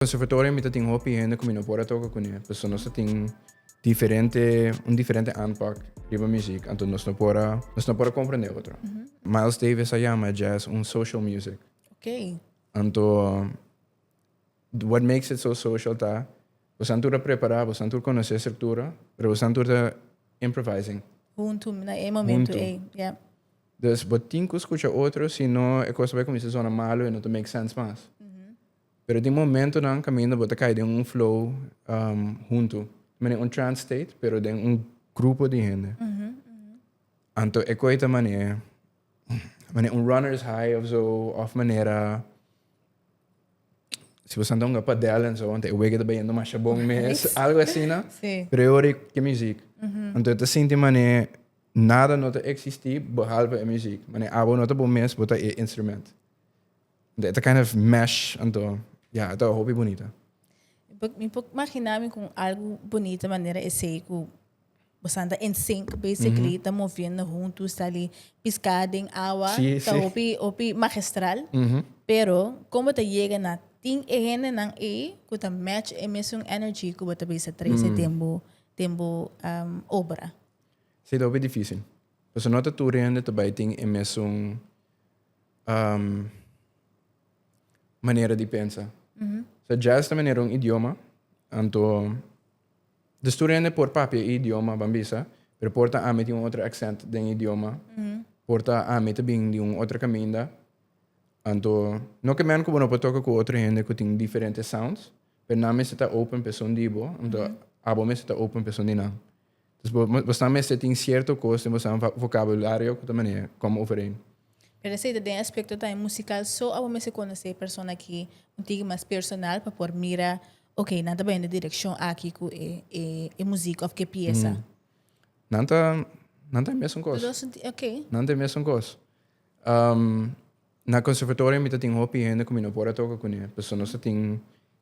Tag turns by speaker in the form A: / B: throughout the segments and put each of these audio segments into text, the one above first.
A: Conservatorio mi ta tin hopi hende cu mi no por a toca cune pasobra nos ta tin diferente, un diferente aanpak riba muziek anto nos no por a, nos no por a comprende otro. Miles Davis a yama jazz un social music. Okay. Anto what makes it so social ta bosan tur a prepara, bosan tur conoce e structura, pero bosan tur ta improvising. Hunto na e momento Hunto. ey. Yeah. Dus bo tin cu scucha otro sino e cos ta bay cuminsa zona malo y no ta make sense mas. Pero tin momentonan kaminda bo ta kai den un flow huntu, manera un trance state, pero den un grupo di hende. Anto e koi ta manera, manera un runner's high of zo, of manera si bo santa hunga padel en zo, anto e wege ta bayendo masha bon mes, algo asina, sí. pero e ori ke muziek. Anto e ta sinti manera nada no ta existi behalve e muziek. Manera abo no ta bo mes, bo ta e instrument. It a kind of mesh anto ya yeah, it a hopi bunita. Mi por imagina mi con algo bonita manera esey cu bosan ta in sync basically, ta moviendo hunto sta ali pisca den awa, sí, ta sí. hopi hopi magistral. Mm -hmm. Pero como ta llega na tin e hende nan ey cu ta match e mesun energy cu bo ta bisa trece mm. den bo den bo um, obra. Sí, ta hopi difícil. Pues no ta tur hende ta bay tin e mesun um, manera di pensa. Mm So, jazz ta manera un idioma, anto de studente por papia e idioma, van bisa, pero por ta ami tin un otro accent den idioma, mm por ta ami ta bin di un otro caminda, anto no ke men ku bo no por toka ku otro hende ku tin diferente sounds, pero nan mester ta open pesun di bo, anto abo mester ta open pesun di nan. Dus bo bo sa mester tin cierto cos den bo sa vocabulario cu ta manera como overeen. Pero esey ta den aspecto tambe musical so a bo mester conoce e persona aki un tigi mas personal pa por mira ok nan ta baña den e direccion aki cu e e e muziek of cu e pieza. Nan ta nan ta e mesun cos. Los dos tin ok. Nan ta e mesun cos. Na conservatorio mi ta tin hopi hende cu mi no por a toca cune pasobra nos ta tin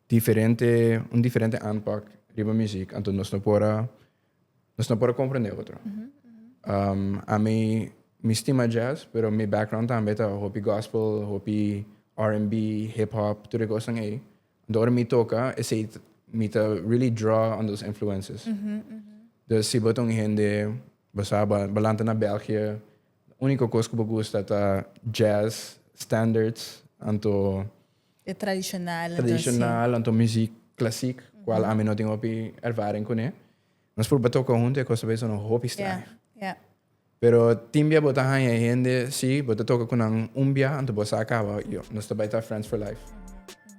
A: diferente, un diferente aanpak riba muziek anto nos no por a, nos no por a comprende otro. Ami, mi stima jazz pero mi background tambe ta hopi gospel, hopi RNB, hip hop, tur e cosnan ey. Anto ora mi toca esey ta, mi ta really draw on those influences. Dus si bo ta un hende, bo sa, bo a lanta na België. Unico cos cu bo gusta ta jazz, standards, anto. E tradicional anto así. Tradicional anto muziek classiek, cual ami no tin hopi ervaring cune. Nos proba toca hunto e cos ta bisa no hopi straño. Pero tin bia bo ta hanja e hende, si, bo ta toca cu nan un bia anto bo sa caba, yo, nos ta bay ta friends for life.